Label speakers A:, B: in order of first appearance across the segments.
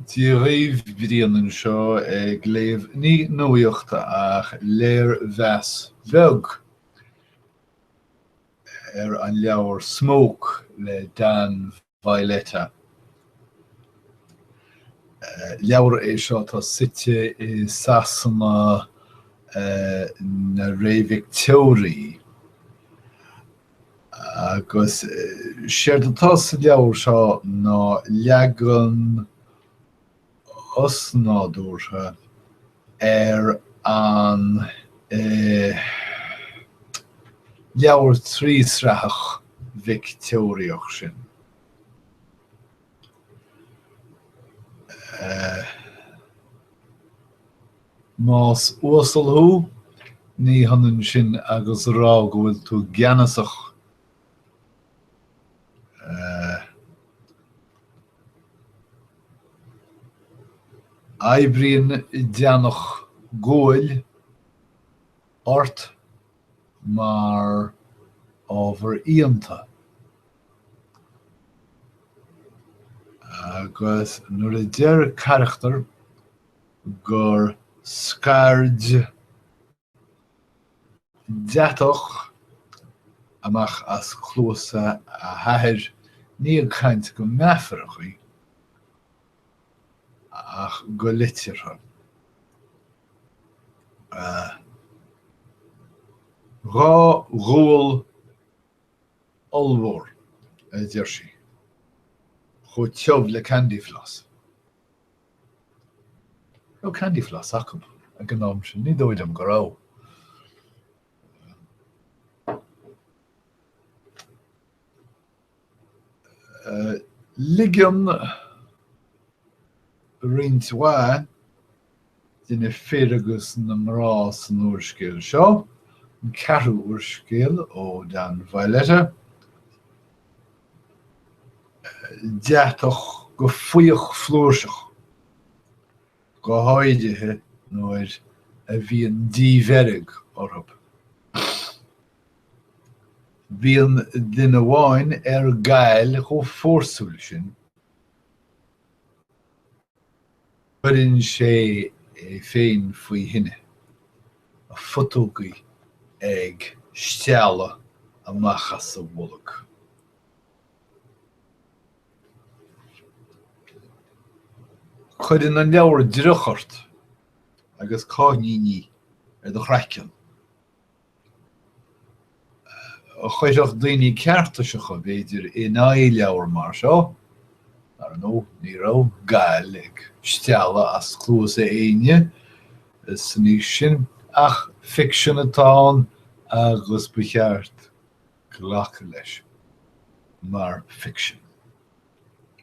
A: Dia dhaoibh, Brian anseo ag léamh ní nuaíocht ach léirmheas bheag ar an leabhar Smoke le Dan Vyleta. Leabhar é seo atá suite i Sasana na ré Victeoiriaí. Agus séard atá sa leabhar seo ná leagan osnádúrtha ar an leabhar trísraitheach Victeoiriach sin. Más uasal thú, ní hionann sin agus a rá go bhfuil tú geanasach. Oibríonn deannach guail ort mar ábhar íonta agus nuair a deir carachtar. gur scaird deatach amach as cluasa a hathair, ní ag caint go meafarach í, ach go liteartha. Dhá dhual ollmhór, a deir sí, chomh tiubh le candyfloss. raibh candyfloss acu ag an am sin, ní dóigh liom go raibh. Uh, ligeann roinnt mhaith de na fir agus na mná san úrscéal seo, an ceathrú úrscéal ó Dan Vyleta, deatach go fuíoch flúirseach, go háirithe nuair a bhíonn díbheirg orthu. Bíonn duine amháin ar gail chomh fórsúil sin. Cuireann sé é féin faoi thine, a phutógaí ag stealladh amach as a bholg. Cuireann an leabhar driuch ort agus cáithníní ar do chraiceann. chuirfeadh daoine ceartaiseacha b'fhéidir in aghaidh leabhar mar seo, dar ndóigh, ní raibh gal ag stealladh as cluasa éinne san aois sin, ach ficsean atá ann agus ba cheart glacadh leis mar fhicsean.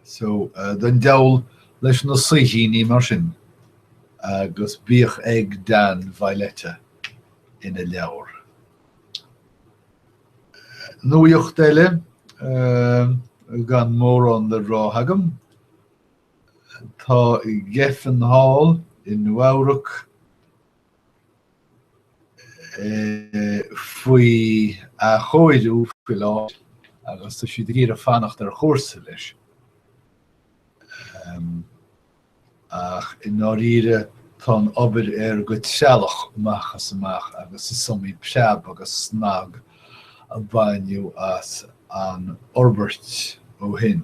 A: So, don deabhal leis na saoithíní mar sin agus bíodh ag Dan Vyleta ina leabhar. Nuaíocht eile, gan mórán le rá agam, tá Geffen Hall i Nua-Eabhrac faoi athchóiriú faoi láthair agus tá siad ag iarraidh fanacht ar chúrsa leis ach i ndáiríre tá an obair ar, go treallach amach is amach agus is iomaí preab agus snag a baineadh as an fhorbairt ó shin.